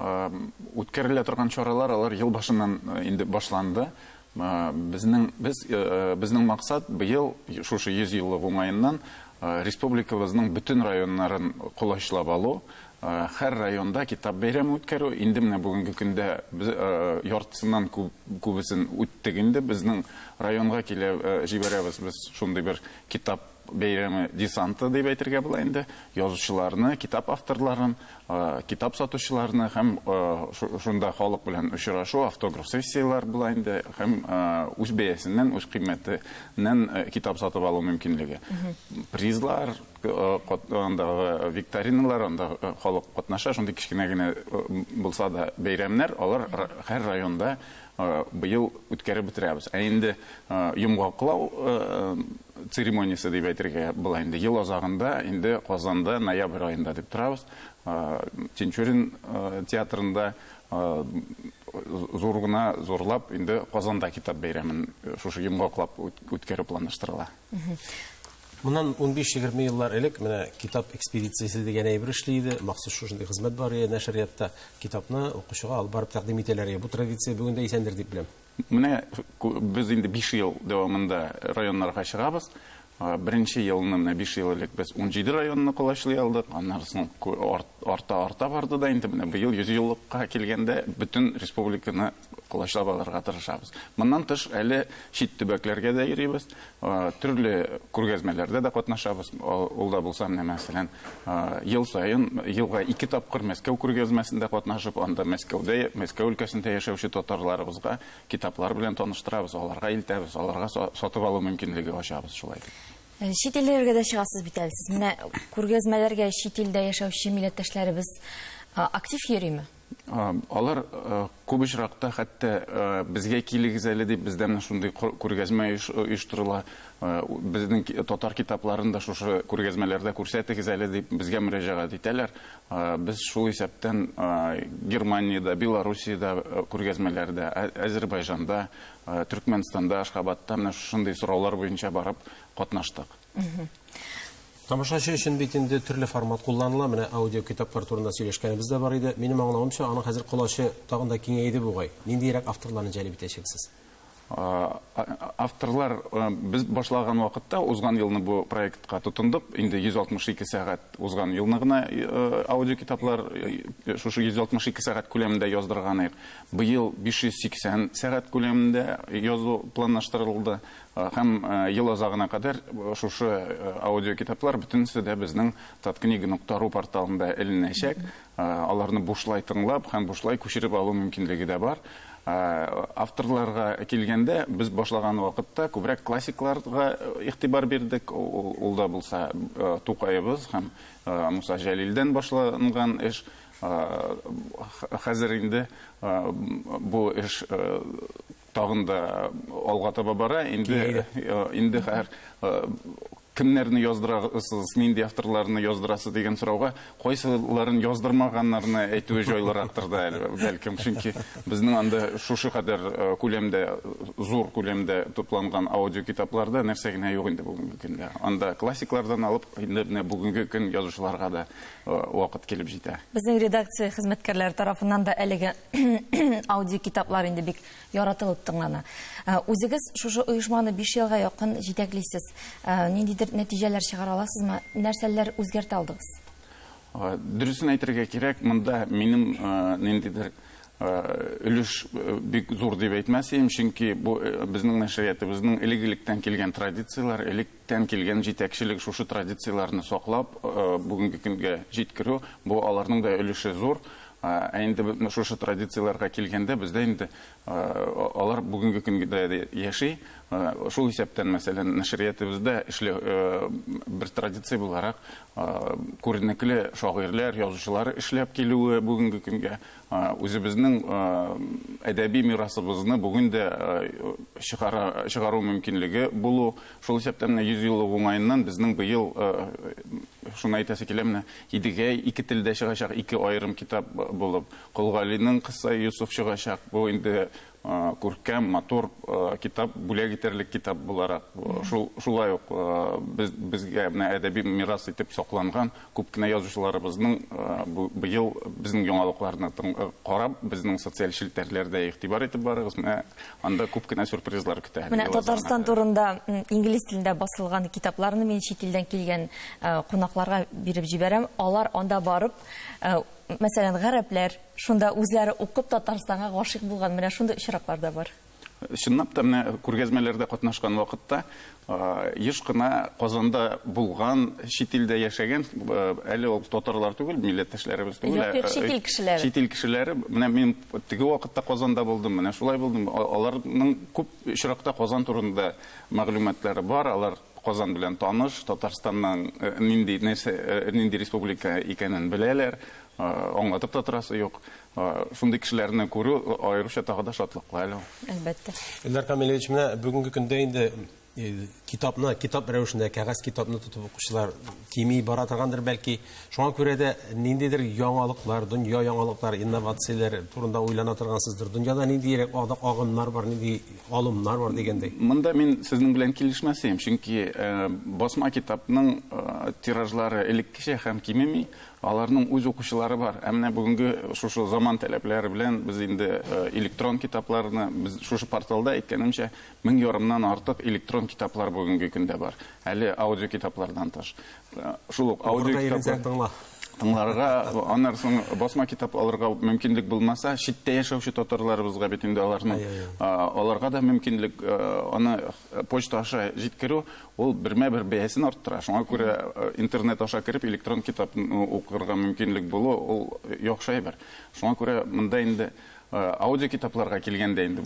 Үткәрелә торган чаралар алар ел башыннан инде башланды. Безнең без безнең максат быел шушы 100 еллык уңаеннан республикабызның бөтен районнарын колачлап алу, һәр районда китап бәйрәме үткәрү. Инде менә бүгенге көндә без яртысыннан күп күбесен үттек инде. Безнең районга килә җибәрәбез без шундый бер китап Бәйрәме десанты дип әйтергә була инде. Язучыларны, китап авторларын, китап сатучыларны һәм шунда халык белән очрашу, автограф сессияләр була инде һәм үз бәясеннән, үз кыйммәтеннән китап сатып алу мөмкинлеге. Призлар, андагы викториналар, анда халык катнаша, шундый кечкенә генә булса да бәйрәмнәр, алар һәр районда Быел үткәреп бетерәбез. Ә инде йомгаклау церемониясе дип әйтергә була инде. Ел азагында, инде Казанда, ноябрь аенда дип торабыз. Тинчурин театрында зур гына, зурлап, инде Казанда китап бәйрәмен шушы йомгаклап үткәрү планлаштырыла. Моннан унбиш-егерме еллар элек менә китап экспедициясе дигән әйбер эшли иде. Махсус шушындый хезмәт бар иде нәшриятта. Китапны укучыга алып барып тәкъдим итәләр иде. Бу традиция бүген дә исәндер дип беләм. Менә без инде биш ел дәвамында районнарга чыгабыз. Беренче елны менә биш ел элек без унҗиде районны колачлый алдык. Аннары соң арта-арта барды да инде менә быел йөзьеллыкка килгәндә бөтен республиканы колачлап алырга тырышабыз. Моннан тыш, әле чит төбәкләргә дә йөрибез, төрле күргәзмәләрдә дә катнашабыз. Ул да булса, менә мәсәлән, ел саен, елга ике тапкыр Мәскәү күргәзмәсендә катнашып, анда Мәскәүдә, Мәскәү өлкәсендә яшәүче татарларыбызга китаплар белән таныштырабыз, аларга илтәбез, аларга сатып алу мөмкинлеге ачабыз шулай итеп. Чит илләргә дә чыгасыз бит әле сез. Менә күргәзмәләргә чит илдә яшәүче милләттәшләребез актив йөрими? Алар күп очракта хәтта безгә килегез әле дип бездән шундый күргәзмә оештырыла. Безнең татар китапларын да шушы күргәзмәләрдә күрсәтегез әле дип безгә мөрәҗәгать итәләр. Без шул исәптән Германиядә, Белоруссиядә күргәзмәләрдә, Әзербайжанда, Төркмәнстанда, Ашхабадта менә шушындый сораулар буенча барып катнаштык. Тамашачы өчен бит инде төрле формат кулланыла. Менә аудио китаплар турында сөйләшкәнебез дә бар иде. Минем аңлавымча, аның хәзер колачы тагын да киңәйде бугай. Ниндиерәк авторларны җәлеп итәчәксез? Авторлар без башлаган вакытта, узган елны бу проектка тотындык, инде 162 сәгать узган елны гына аудио китаплар шушы 162 сәгать күләмендә яздырган идек. Быел 580 сәгать күләмендә язу планлаштырылды. Һәм ел азагына кадәр шушы аудиокитаплар бөтенесе дә безнең Таткнига нокта ру порталында эленәчәк. Аларны бушлай тыңлап һәм бушлай күчереп алу мөмкинлеге дә бар. Авторларга килгәндә, без башлаган вакытта күбрәк классикларга игътибар бирдек. Ул да булса Тукаебыз һәм Муса Җәлилдән башланган эш. Хәзер инде бу эш Тагын да алга таба бара. Инде инде хәр кемнәрне яздырасыз, нинди авторларны яздырасыз дигән сорауга, кайсыларын яздырмаганнарны әйтүе җайлырактыр да әле, бәлкем, чөнки безнең анда шушы кадәр күләмдә, зур күләмдә тупланган аудиокитапларда нәрсә генә юк инде бүгенге көндә. Анда классиклардан алып, инде менә бүгенге көн язучыларга да вакыт килеп җитә. Безнең редакция хезмәткәрләре тарафыннан да әлеге аудиокитаплар инде бик яратылып тыңлана. Ә, үзегез шушы оешманы 5 елга якын җитәклисез. Ә, ниндидер нәтиҗәләр чыгара аласызмы? Нәрсәләр үзгәртә алдыгыз? Ә, дөресен әйтергә кирәк, монда минем ниндидер өлеш бик зур дип әйтмәс идем, чөнки бу безнең нәшриятыбызның элек-электән килгән традицияләр, элек Тән килгән җитәкчелек шушы традицияләрне саклап, бүгенге көнгә җиткерү, бу аларның да өлеше зур. Ә инде менә шушы традицияләргә килгәндә, бездә инде алар бүгенге көнгә дә яши. Шул исәптән, мәсәлән, нәшриятыбызда эшле бер традиция буларак, күренекле шагыйрьләр, язучылар эшләп килүе бүгенге көнгә Үзебезнең әдәби мирасыбызны бүген дә чыгару мөмкинлеге булу, шул исәптән менә 100 еллык уңаеннан безнең быел, шуны әйтәсе килә, менә Идегәй ике телдә чыгачак, ике аерым китап булып, Кол Галинең Кыссаи Йосыф чыгачак. Бу инде Күркәм, матур китап, бүләк итәрлек китап буларак, шулай ук безгә менә әдәби мирас итеп сакланган күп кенә язучыларыбызның быел безнең яңалыкларны карап, безнең социаль челтәрләрдә игътибар итеп барыгыз, менә анда күп кенә сюрпризлар көтә. Менә Татарстан турында инглиз телендә басылган китапларны мин чит илдән килгән кунакларга биреп җибәрәм, алар анда барып, мәсәлән, гарәпләр, Шунда үзләре укып Татарстанга гашыйк булган, менә шундый очраклар да бар. Чынлап та, менә күргәзмәләрдә катнашкан вакытта еш кына Казанда булган, чит илдә яшәгән, әле ул татарлар түгел, милләттәшләребез түгел, ә чит ил кешеләре. Чит ил кешеләре, менә мин теге вакытта Казанда булдым, менә шулай булдым. Аларның күп очракта Казан турында мәгълүматлары бар, алар Казан белән таныш, Татарстанның нинди, нәрсә, нинди республика икәнен беләләр, аңлатып та торасы юк. Шундый кешеләрне күрү аеруча тагы да шатлыклы әле ул. Әлбәттә. Эльдар Камилевич, менә бүгенге көндә инде китапны, китап рәвешендә, кәгазь китапны тотып укучылар кими бара торгандыр, бәлки. Шуңа күрә дә ниндидер яңалыклар, дөнья яңалыклар, инновацияләр турында уйлана торгансыздыр. Дөньяда ниндиерәк агымнар бар, нинди алымнар бар дигәндәй. Монда мин сезнең белән килешмәс идем, чөнки басма китапның тиражлары элеккечә һәм кимеми, аларның үз укучылары бар. Ә менә бүгенге шушы заман таләпләре белән без инде электрон китапларны, без шушы порталда, әйткәнемчә, мең ярымнан артык электрон китаплар бүгенге көндә бар, әле аудиокитаплардан тыш. шул ук аудиокитаплар тыңларга, аннан соң басма китап алырга мөмкинлек булмаса, читтә яшәүче татарларыбызга бит инде аларны аларга да мөмкинлек аны почта аша җиткерү, ул бермә-бер бәясен арттыра. Шуңа күрә интернет аша кереп электрон китапны укырга мөмкинлек булу, ул яхшы әйбер. Шуңа күрә монда инде Аудиокитапларга килгәндә инде,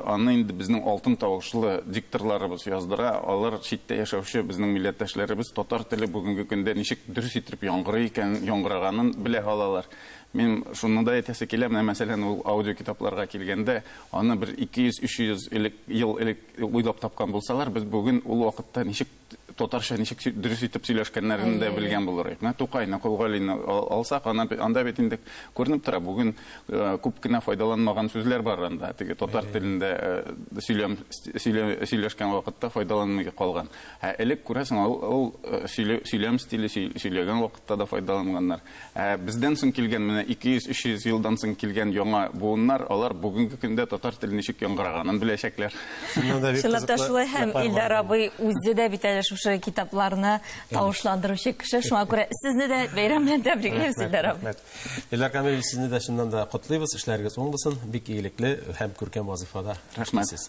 аны инде безнең алтын тавышлы дикторларыбыз яздыра. Алар читтә яшәүче безнең милләттәшләребез татар теле бүгенге көндә ничек дөрес иттереп яңгырый икән, яңгыраганын белә алалар. Мин шуны да әйтәсе килә, менә мәсәлән, ул аудиокитапларга килгәндә, аны бер 200-300 элек, ел элек уйлап тапкан булсалар, без бүген ул вакытта ничек Татарча ничек дөрес итеп сөйләшкәннәрен дә белгән булырык. Менә Тукайны, Колгалине алсак, анда бит инде күренеп тора. Бүген э, күп кенә файдаланмаган сүзләр бар анда. Теге татар телендә э, сөйләм сөйләшкән вакытта файдаланмый калган. Ә элек күрәсең, ул э, сөйләм стиле сөйләгән вакытта да файдаланганнар. Ә бездән соң килгән менә 200-300 елдан соң килгән яңа буыннар, алар бүгенге көндә татар теле ничек яңгыраганын беләчәкләр. Чынлап та шулай һәм Илдар абый үзе дә бит әле шушы китапларны тавышландыручы кеше, шуңа күрә сезне дә бәйрәм белән тәбриклибез, Илдар абый. Илдар Камилович, сезне дә чыннан да котлыйбыз, эшләрегез уң булсын, бик игелекле һәм күркәм вазыйфада эшлисез.